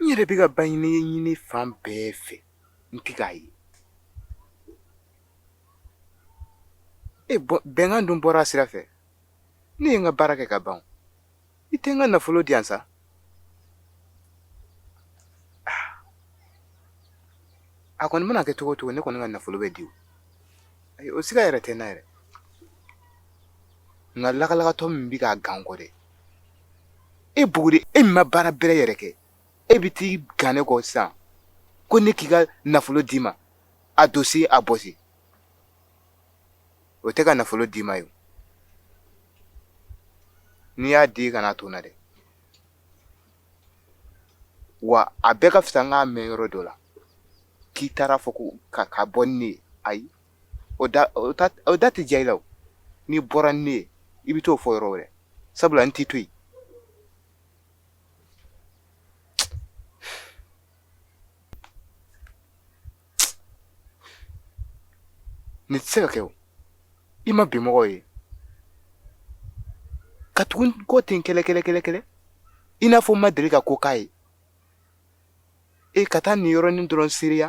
yɛrɛ bɛ ka baɲini ɲini fan bɛɛ fɛ n tɛ k'a ye e bɛnkan dun bɔra a sira fɛ ne ye n ka baara kɛ ka ban i tɛ n ka nafolo di yan sa a kɔni mana kɛ cogo o cogo ne kɔni ka nafolo bɛ di ayi o siga yɛrɛ tɛ n na yɛrɛ nka lagalagatɔ min bɛ k'a gan n kɔ dɛ e buguri e min ma baara bɛrɛ yɛrɛ kɛ e bɛ t'i gan ne kɔ sisan ko ne k'i ka nafolo d'i ma a dosi a bɔsi o tɛ ka nafolo d'i ma ye o. n'i y'a di i kana to n na dɛ wa a bɛɛ ka fisa n k'a mɛn yɔrɔ dɔ la k'i taar'a fɔ ko ka ka bɔ ni ne ye ayi o da o ta o da tɛ diya i la o n'i bɔra ni ne ye i bɛ t'o fɔ yɔrɔ wɛrɛ sabula n t'i to yen Nin tɛ se ka kɛ o i ma bi mɔgɔw ye ka tugu n kɔ ten kɛlɛ kɛlɛ kɛlɛ kɛlɛ i n'a fɔ n ma deli ka ko k'a ye e ka taa nin yɔrɔnin dɔrɔn seereya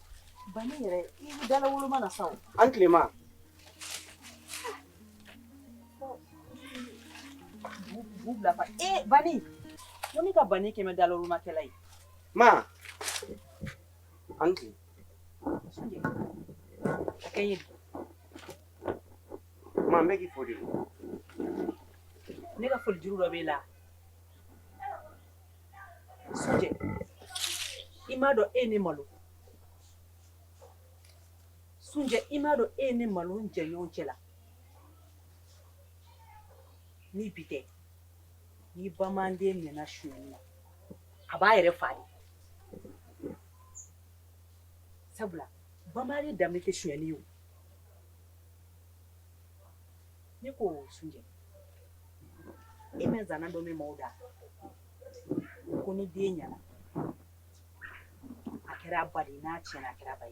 Bani yɛrɛ i bɛ dala woloma na sa o. A ni tile ma. B'u bila fa ee eh, bani ko ne ka bani kɛmɛ dala wolomakɛla ye. Ma a ni tile. A kɛ ye. Ma n bɛ k'i fo de. Ne ka foli juru dɔ b'e la. i m'a dɔn e ye ne malo sunjɛ i m'a dɔn e ye ne malo jɛɲɔgɔn cɛ la ni bi tɛ ni bamanden minɛna sonyɛni na a b'a yɛrɛ fa de sabula bamanden danbe tɛ sonyɛni ye ne ko sunjɛ e ma zana dɔ mɛn mɔgɔw da u ko ni den ɲɛna a kɛra ba ye n'a cɛnna a kɛra ba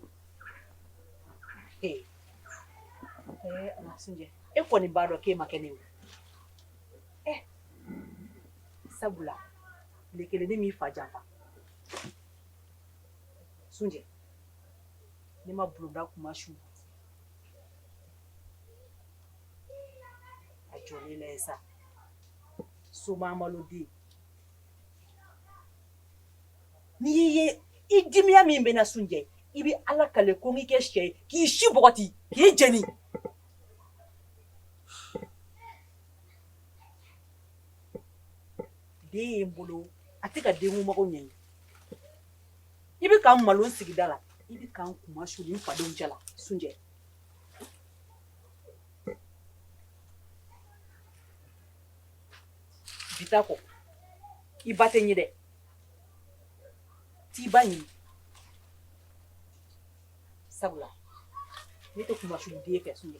ye sunjɛ e kɔni b'a dɔn k'e ma kɛ ne ye sabula ne kelen ne m'i fa janfa sunjɛ ne ma bulonda kuma su A jɔ sa so amadu den n ye i dimiya min bɛ n na sunjɛ i bɛ ala kali ko n' kɛ sɛ k'i si bɔgɔti k'i jeni den ye n bolo a tɛ ka den mago ɲɛ i bɛ ka n malo n sigida la i bɛ ka n kunmasuli n fadenw cɛ la sunjɛ bi ta kɔ i ba tɛ ɲɛ dɛ t'i ba ɲini sabula ne tɛ kunmasuli den fɛ sunjɛ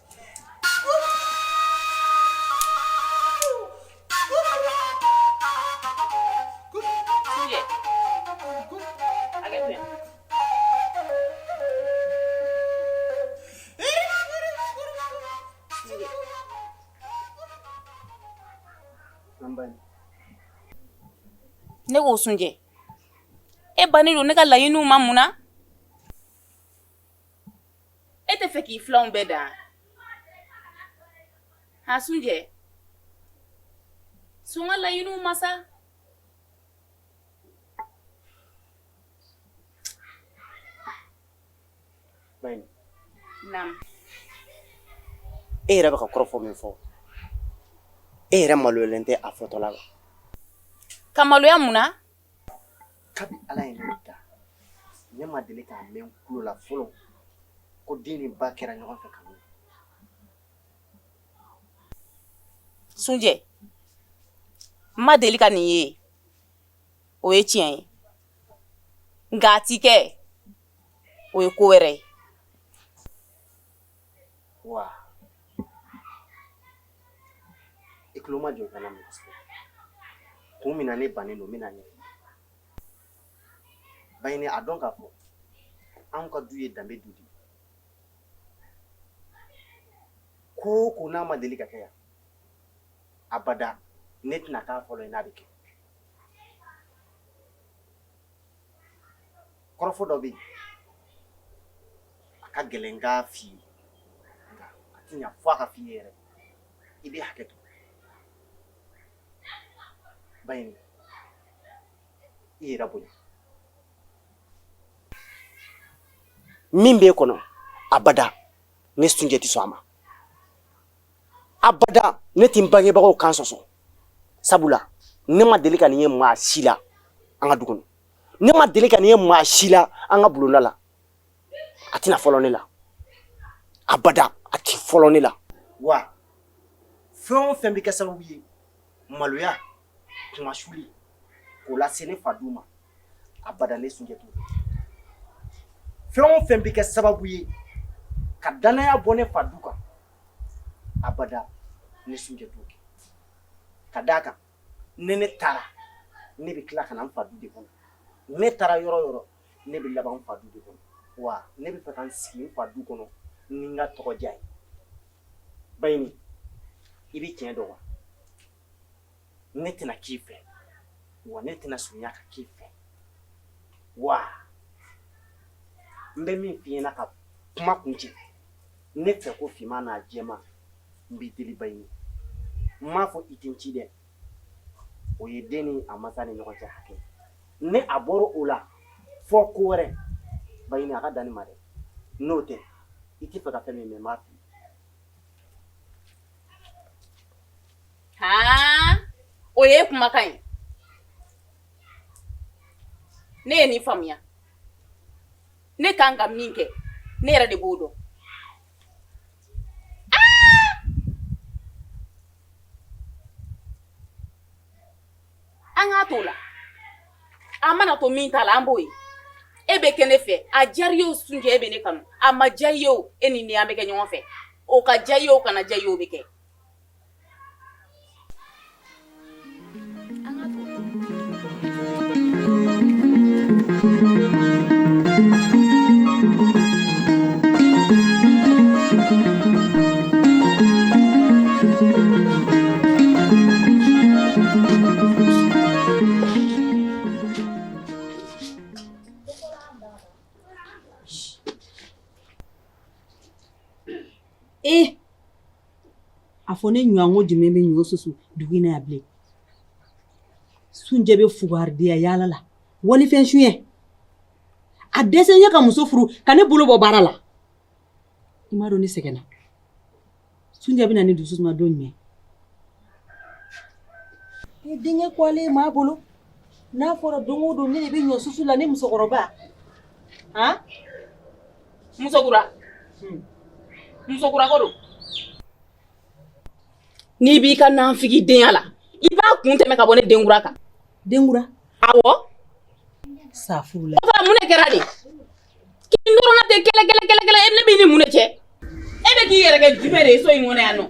ne ko sunjɛ e bannen don ne ka laɲiniw ma mun na E t'a fɛ k'i filanw bɛɛ dan a sunjɛ sɔn n ka laɲiniw ma sa e yɛrɛ bɛ ka kɔrɔfɔ min fɔ e yɛrɛ maloyalen tɛ a fɔtɔ la ba ka maloya mun kabi ala ye ne da ne ma deli k'a mɛn n kulo la fɔlɔ ko den ni ba kɛra ɲɔgɔn fɛ kanu sunjɛ n ma deli ka nin ye o ye tiɲɛ ye nka a ti kɛ o ye ko wɛrɛ ye wa I tulo majɔ i ka n lamɛn sa kun min na ne bannen don n bɛn'a ɲɛf'i ye Baɲini a dɔn k'a fɔ anw ka du ye danbe du de ye ko o ko n'a ma deli ka kɛ yan abada ne tɛna k'a fɔlɔ ye n'a bɛ kɛ kɔrɔfɔ dɔ bɛ yen a ka gɛlɛn k'a f'i ye nka a tɛ ɲa fo a ka f'i ye yɛrɛ i bɛ hakɛ to Baɲini yɛrɛ bonya min b'e kɔnɔ abada ne sunjɛ tɛ sɔn a ma abada ne tɛ n bangebagaw kan sɔsɔ sabula ne ma deli ka nin ye maa si la an ka du kɔnɔ ne ma deli ka nin ye maa si la an ka bulonda la a tɛna fɔlɔ ne la abada a tɛ fɔlɔ ne la wa fɛn o fɛn bɛ kɛ sababu ye maloya kunmasuli k'o lase ne fa du ma abada ne sunjɛ t'o kɛ fɛn o fɛn bɛ kɛ sababu ye ka dannaya bɔ ne fa du kan abada ne sunjɛ t'o kɛ ka d'a kan ni ne taara ne bɛ tila ka na n fa du de kɔnɔ ne taara yɔrɔ o yɔrɔ ne bɛ laban n fa du de kɔnɔ wa ne b'a fɛ ka n sigi n fa du kɔnɔ ni n ka tɔgɔ diya ye baɲini i bɛ tiɲɛ dɔn wa ne tɛna k'i fɛ wa ne tɛna surunya ka k'i fɛ wa n bɛ min f'i ɲɛna ka kuma kuncɛ ne fɛ ko finman n'a jɛman n b'i deli baɲini n m'a fɔ i tɛ n ci dɛ o ye den ni a mansa ni ɲɔgɔn cɛ hakɛ ni a bɔra o la fɔ ko wɛrɛ baɲini a ka dan nin ma dɛ n'o tɛ i tɛ fɛ ka fɛn min mɛ n b'a f'i ye Aa o ye kumakan ye ne ye nin faamuya ne ka kan ka min kɛ ne yɛrɛ de b'o dɔn an k'a to o la a mana to min ta la an b'o ye e bɛ kɛ ne fɛ a diyara i ye o sunjɛ e bɛ ne kanu a ma diya i ye o e ni ne an bɛ kɛ ɲɔgɔn fɛ o ka diya i ye o kana diya i ye o bɛ kɛ fɔ ne ɲɔgɔnko jumɛn bɛ ɲɔ susu dugu in na yan bilen sunjɛ bɛ fugaridenya yaala la walifɛn sonyɛ a dɛsɛlen ye ka muso furu ka ne bolo bɔ baara la i m'a dɔn ne sɛgɛnna sunjɛ bɛ na ne dusu suma don jumɛn ni denkɛ kɔgɔlen ye maa bolo n'a fɔra don o don ne de bɛ ɲɔ susu la ne musokɔrɔba han musokura hmm. musokura ko don n'i b'i ka nanfigi denya la i b'a kun tɛmɛ ka bɔ ne denkura kan denkura awɔ safurula o fana mun de kɛra de kin dɔrɔnna tɛ kɛlɛ kɛlɛ kɛlɛ kɛlɛ ne b'i ni mun de cɛ e bɛ k'i yɛrɛ kɛ jumɛn de ye so in kɔnɔ yan nɔ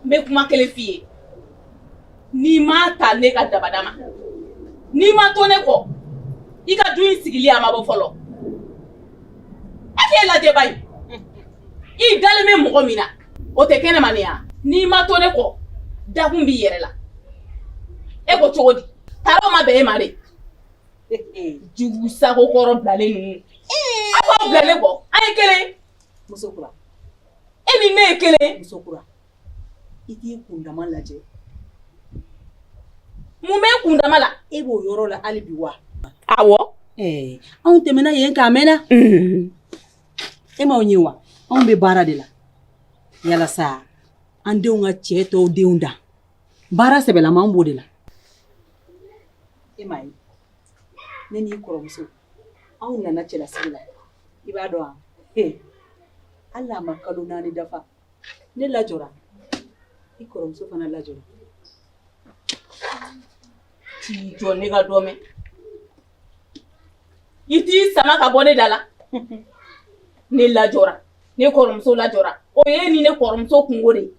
n bɛ kuma kelen f'i ye n'i m'a ta ne ka dabada ma n'i ma to ne kɔ i ka du in sigili a ma bɔ fɔlɔ e k'e lajɛ ba ye i dalen bɛ mɔgɔ min na o tɛ kɛnɛma ne yan n'i ma to ne kɔ dakun b'i yɛrɛ la e ko cogo di tari o ma bɛn e ma de jugu sago kɔrɔ bilalen ninnu ee aw b'aw bilalen kɔ an ye kelen muso kura e ni ne ye kelen muso kura i k'i kundama lajɛ mun b'i kundama la e b'o yɔrɔ la hali bi wa awɔ ee anw tɛmɛna yen k'a mɛnna e m'aw ye wa anw bɛ baara de la yalasa an denw ka cɛ tɔw denw dan baara sɛbɛlama an b'o de la e m'a ye ne n'i kɔrɔmuso anw nana cɛlasigi la i b'a dɔn wa he hali n'a ma kalo naani dafa ne lajɔra i kɔrɔmuso fana lajɔra t'i jɔ ne ka dɔ mɛn i t'i sama ka bɔ ne da la ne lajɔra ne kɔrɔmuso lajɔra o ye ne ni kɔrɔmuso kunko de ye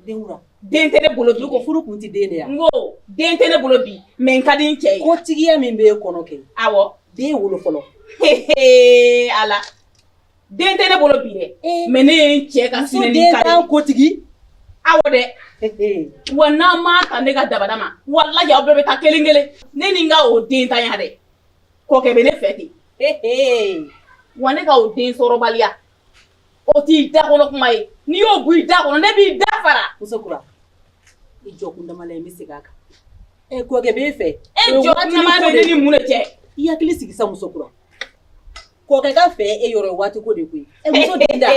den tɛ ne bolo bi ko furu kun tɛ den de ye n ko den tɛ ne bolo bi mɛ n ka di cɛ ye ko tigiya min bɛ e kɔnɔ kɛ aw den wolo fɔlɔ ala den tɛ ne bolo bi dɛ eh. mɛ ne ye n cɛ ka sinɛni ka den kotigi aw dɛ wa n'aw m'a ta ne ka dabada ma walahi aw bɛɛ bɛ taa kelen kelen ne ni n ka o dentanya dɛ kɔkɛ bɛ ne fɛ ten wa ne ka o densɔrɔbaliya O t'i da kɔnɔ kuma ye n'i y'o bɔ i da kɔnɔ ne b'i da fara musokura i jɔ kundama la i bɛ segin a kan ɛ kɔkɛ b'e fɛ e jɔ ne ni mun de cɛ i hakili sigi sa musokura kɔkɛ ka fɛ e yɔrɔ waati ko de koyi e muso den da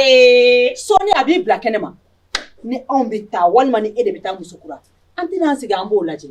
sɔɔni a b'i bila kɛnɛ ma ni anw bɛ taa walima ni e de bɛ taa musokura an tɛn'an sigi an b'o lajɛ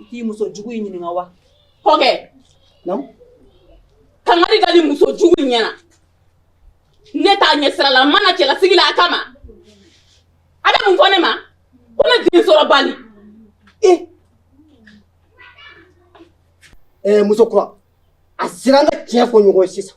I t'i muso jugu in ɲininka wa? Kɔkɛ! Naamu? Kangari da nin muso jugu in ɲɛna. Ne t'a ɲɛ sira la, n ma na cɛlasigi la a kama. A bɛ mun fɔ ne ma? Ko ne densɔrɔbali. Ee! Ɛɛ muso kura, a sera an ka tiɲɛ fɔ ɲɔgɔn ye sisan.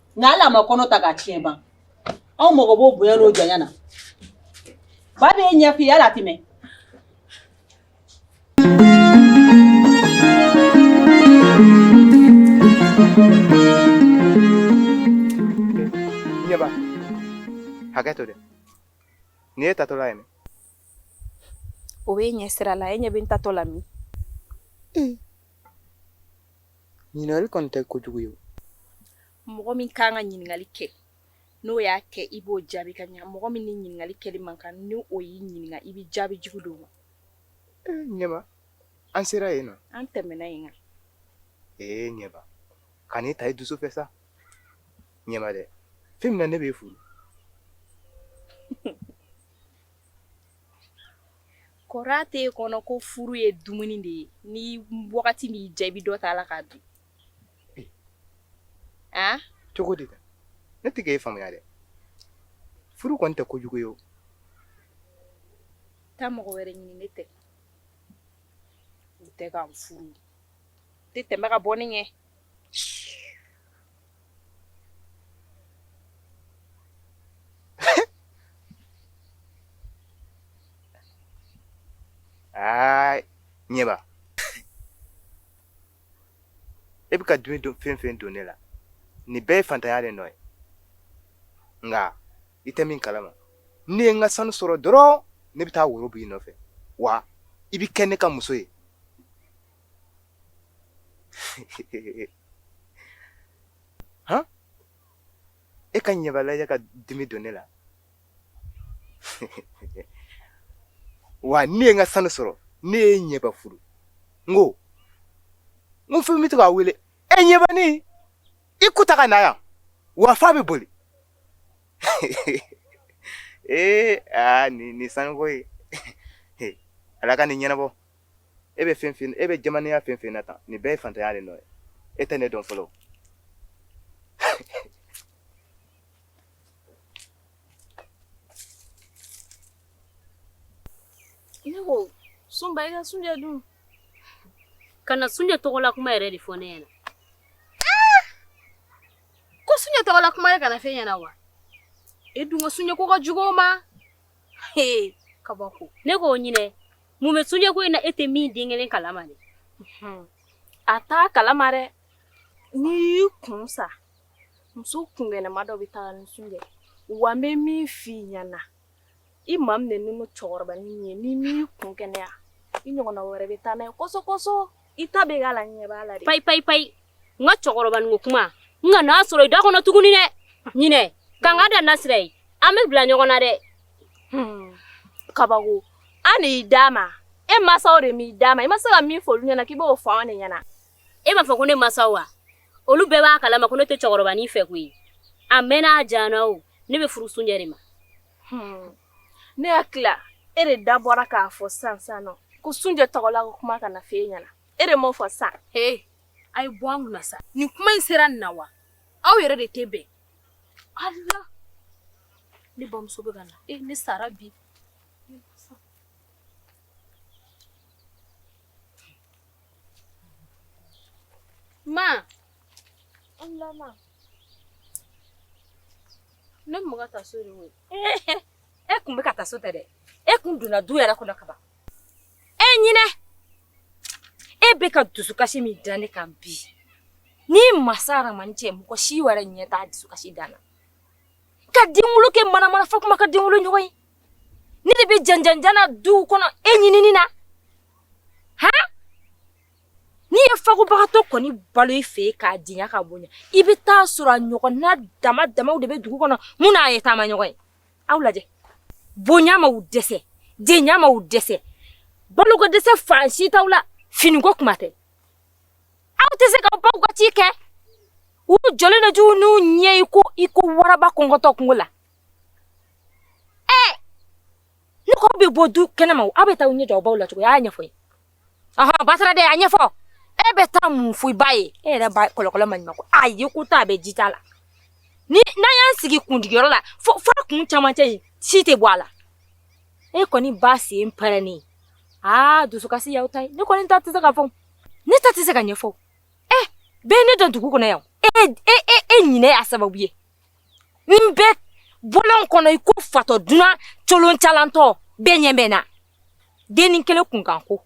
nka hali a ma kɔnɔ ta k'a tiɲɛ ban anw mago b'o bonya n'o janya na ba b'a ɲɛf'i ye hali a tɛ mɛn ɲɛba hakɛto dɛ nin ye taatɔla ye dɛ o bɛ ɲɛ sira la e ɲɛ bɛ n taatɔ la min Ɲininkali kɔni tɛ ko jugu ye o. Mɔgɔ min ka kan ka ɲininkali kɛ, n'o y'a kɛ, i b'o jaabi ka ɲɛ. Mɔgɔ min ni ɲininkali kɛli man kan, ni o y'i ɲininka, i bɛ jaabi jugu d'o ma. Ee Ɲɛba, an sera yen na? An tɛmɛna yen kan. Ee Ɲɛba, kana taa i dusu fɛ sa. Ɲɛba dɛ, fɛn min na ne b'e furu. Kɔrɔ tɛ kɔnɔ ko furu ye dumuni de ye ni wagati min ja i bɛ dɔ ta a la k'a dun a cogo di ne tɛ k'e faamuya dɛ furu kɔni tɛ kojugu ye taa mɔgɔ wɛrɛ ɲini ne tɛ u tɛ ka n furu tɛ tɛmɛ ka bɔ ne ɲɛ Aa ɲɛba e bɛ ka dimi fɛn fɛn don ne la nin bɛɛ ye faantanya de nɔ ye nka i tɛ min kalama ne ye n ka sanu sɔrɔ dɔrɔn ne bɛ taa woro bil'i nɔfɛ wa i bɛ kɛ ne ka muso ye han e ka ɲɛba lajɛ ka dimi don ne la wa ne ye n ka sanu sɔrɔ ne ye ɲɛba furu n ko n ko fɛn bɛ to k'a wele e ɲɛbani i kun ta ka na yan wa fa bɛ boli ee aa nin nin sanuko ye ala ka nin ɲɛnabɔ e bɛ fɛn fɛn e bɛ jamanaya fɛn fɛn na tan nin bɛɛ ye faantanya de nɔ ye e tɛ ne dɔn fɔlɔ ne ko sunba i ka sunjɛ dun kana sunjɛ tɔgɔla kuma yɛrɛ de fɔ ne ɲɛna ah! ko sunjɛ tɔgɔla kuma yɛrɛ kana f'e ɲɛna wa e dun ka sunjɛ ko ka jugu o ma kabako ne ko ɲinɛ Mun bɛ sunjɛ ko in na e tɛ min den kelen kalama de a taa kalama dɛ n'i y'i kun sa muso kunkɛnɛma dɔ bɛ taa ni sunjɛ wa bɛ min f'i ɲɛna i m'a minɛ ni cɛkɔrɔba ye n'i m'i kun kɛnɛya i ɲɔgɔn wɛrɛ bɛ taa n'a ye kosɔsɔ i ta bɛ k'a la ɲɛ b'a la dɛ payi payi payi n ka cɛkɔrɔba ni ko kuma n kan'a sɔrɔ i da kɔnɔ tuguni dɛ ɲinɛ ka n ka da nasira ye an bɛ bila ɲɔgɔn na dɛ hmm. kabako an de y'i d'a ma e masaw de m'i d'a ma i ma se ka min fɔ olu ɲɛna k'i b'o fɔ an de ɲɛna e m'a fɔ ko ne masaw wa olu bɛɛ b'a kalama ko ne tɛ cɛkɔrɔba ni fɛ koyi a mɛnna a jana o ne bɛ furu sunjɛ de ma hmm. ne y'a tila e de da bɔra k'a fɔ san san nɔ ko sunjɛ tɔgɔla ko kuma kana fɔ e ɲɛna e de m'o fɔ san he a ye bɔ an kunna sa nin kuma in sera nin na wa aw yɛrɛ de tɛ bɛn ala ne bamuso bɛ ka na e ne sara bi ma ala ma ne bɛ ka taa so de koyi e kun bɛ ka taa so tɛ dɛ e kun donna du yɛrɛ kɔnɔ kaban e ɲinɛ e bɛ ka dusukasi min da ne kan bi ni masa Ala ma ne cɛ mɔgɔ si wɛrɛ ɲɛ t'a dusukasi dan na ka denwolo kɛ manamana fɔ kuma ka denwolo ɲɔgɔn ye ne de bɛ janjanjana duw kɔnɔ e ɲinini na han N'i ye fabagatɔ kɔni balo i fɛ k'a di ka bonya i bɛ taa sɔrɔ a ɲɔgɔn na dama dama de bɛ dugu kɔnɔ min n'a ye taamaɲɔgɔn ye aw lajɛ bonya ma dɛsɛ den ma dɛsɛ balo dɛsɛ fa si t'u la finiko kuma tɛ aw tɛ se k'aw baw ka ci kɛ u jɔju n'u ɲɛ i ko i ko waraba kɔngɔtɔ kungo la ɛ ne bɛ bɔ du kɛnɛma aw bɛ taa ɲɛ aw baw la cogoya ɲɛfɔ ɔhɔn basi tɛ dɛ a ɲɛfɔ e bɛ taa mun fɔ i ba ye e yɛrɛ ba kɔlɔkɔlɔ ma ɲuman ko a ye ko ta a bɛ ji t'a la ni n'an y'an sigi kundigiyɔrɔ la fo fo a kun camancɛ in si tɛ bɔ a la e kɔni ba sen pɛrɛnnen aa dusukasi y'aw ta ye ne kɔni ta tɛ se ka fɔ ne ta tɛ se ka ɲɛfɔ ɛ bɛɛ ye ne dɔn dugu kɔnɔ yan e e e e ɲinɛ y'a sababu ye ne bɛ bɔlɔn kɔnɔ i ko fatɔ dunan coloncalantɔ bɛɛ ɲɛ bɛ n na denni kelen kunkan ko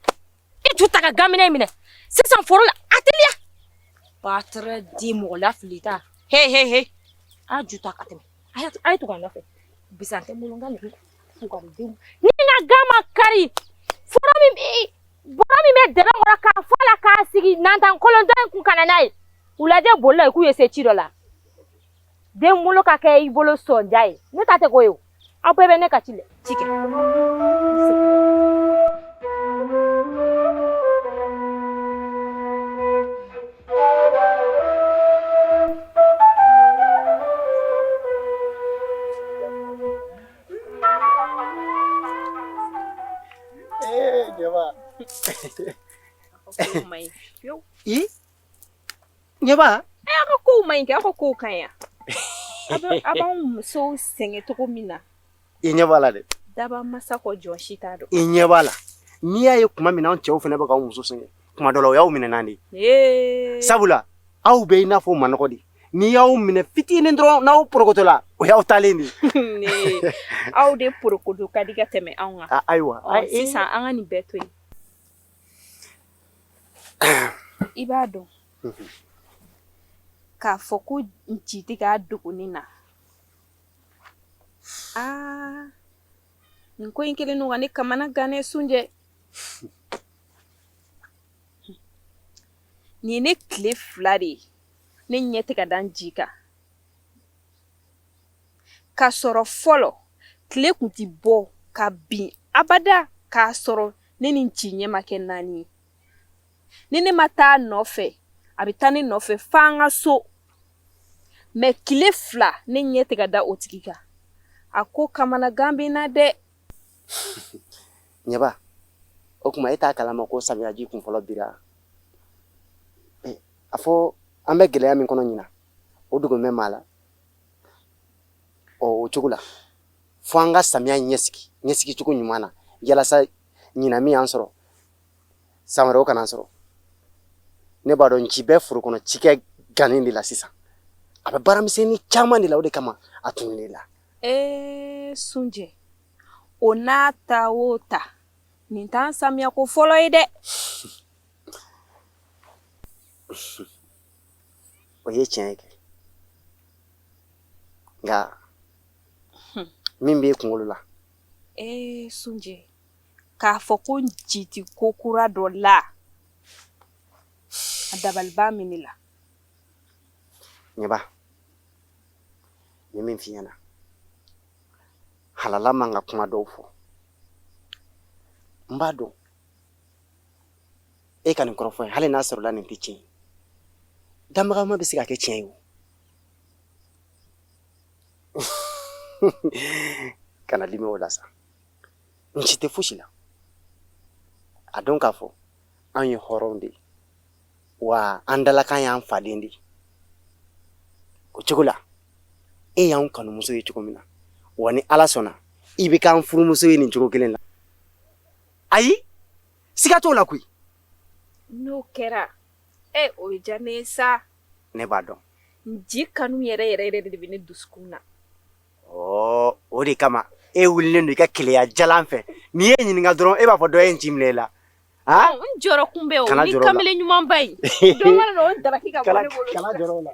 i ju ta ka gaminɛ minɛ sisan foro la a teliya patɛrɛ di mɔgɔ lafilita he he he a ju ta ka tɛmɛ a ye tugu a nɔfɛ bisan tɛ n bolo nka nin tugadenw ni n'a kan ma kari foro min bɛ bɔrɔ min bɛ dɛbɛ kɔrɔ k'a fɔ la k'a sigi nantan kolontɔ in kun kana n'a ye u lajɛ boli la i k'u ye se ci dɔ la denwolo ka kɛ i bolo sɔnja ye ne ta tɛ ko ye aw bɛɛ bɛ ne ka ci la ci kɛ Jaba. I ɲɛba ɛ aw ka kow man ɲi kɛ aw ka kow ka ɲi wa a bɛ a b'anw musow sɛgɛn cogo min na i ɲɛ b'a la dɛ dabamasa kɔ jɔn si t'a dɔn i ɲɛ b'a la n'i y'a ye tuma min na anw cɛw fana bɛ k'aw musow sɛgɛn tuma dɔ la o y'aw minɛnan de ye ee sabula aw bɛ i n'a fɔ manɔgɔ de n'i y'aw minɛ fitinin dɔrɔn n'aw porokotola o y'aw taalen de ye aw de porokoto ka di ka tɛmɛ anw kan ayiwa sisan an ka nin bɛɛ to yen I b'a dɔn k'a fɔ ko nci tɛ ka dogo ne na aa nin ko in kelen ne kamanagannen sunjɛ nin ye ne tile fila de ye ne ɲɛ tɛ ka da nci kan k'a sɔrɔ fɔlɔ tile tun tɛ bɔ ka bin abada k'a sɔrɔ ne ni nci ɲɛ ma kɛ naani ye ni ne ma taa a nɔfɛ a bɛ taa ne nɔfɛ f'an ka so mɛ kile fila ne ɲɛ tɛ ka da o tigi kan a ko kamanagan bɛ n na dɛ ɲɛba o tuma e t'a kalama ko samiyaji kunfɔlɔ bira eh, a fɔ an bɛ gɛlɛya min kɔnɔ ɲinan o dogolen bɛ maa la ɔ o cogo la fo an ka samiya ɲɛsigi ɲɛsigi cogo ɲuman na yalasa ɲinan min y'an sɔrɔ san wɛrɛ o kan'an sɔrɔ ne b'a dɔn nci bɛ foro kɔnɔ cikɛ gannen de la sisan a bɛ baaramisɛnnin caman de la o de kama a tununn'e la ee sunjɛ o n'a ta o ta nin t'an samiyako fɔlɔ ye dɛ o ye tiɲɛ ye kɛ nka min bɛ e kunkolo la ee sunjɛ k'a fɔ ko nci tɛ ko kura dɔ la a dabaliba min la ɲɛba ye min fi na hala man ka kuma dɔw fɔ n b'a dɔn e ka nin kɔrɔfɔ ye hali n'a sɔrɔla nin tɛ tiɲɛ ye damadama bɛ se ka kɛ tiɲɛ ye o kana dimi o la sa nci tɛ fosi la a dɔn k'a fɔ an ye hɔrɔnw de ye wa an dalakan y'an faden de ye o cogo la e y'an kanumuso ye cogo min na wa ni ala sɔnna i bɛ k'an furumuso ye nin cogo kelen na ayi siga t'o la koyi n'o kɛra ɛ o bɛ diya ne ye sa ne b'a dɔn k'i kanu yɛrɛ yɛrɛ yɛrɛ de de bɛ ne dusukun na ɔ o de kama e wulilen don i ka keleya jalan fɛ ni n y'i ɲininka dɔrɔn e b'a fɔ dɔ ye n ci minɛ i la n jɔrɔ kun bɛ o ni kamalen ɲumanba in dɔ mana na o daraki ka bɔ ne bolo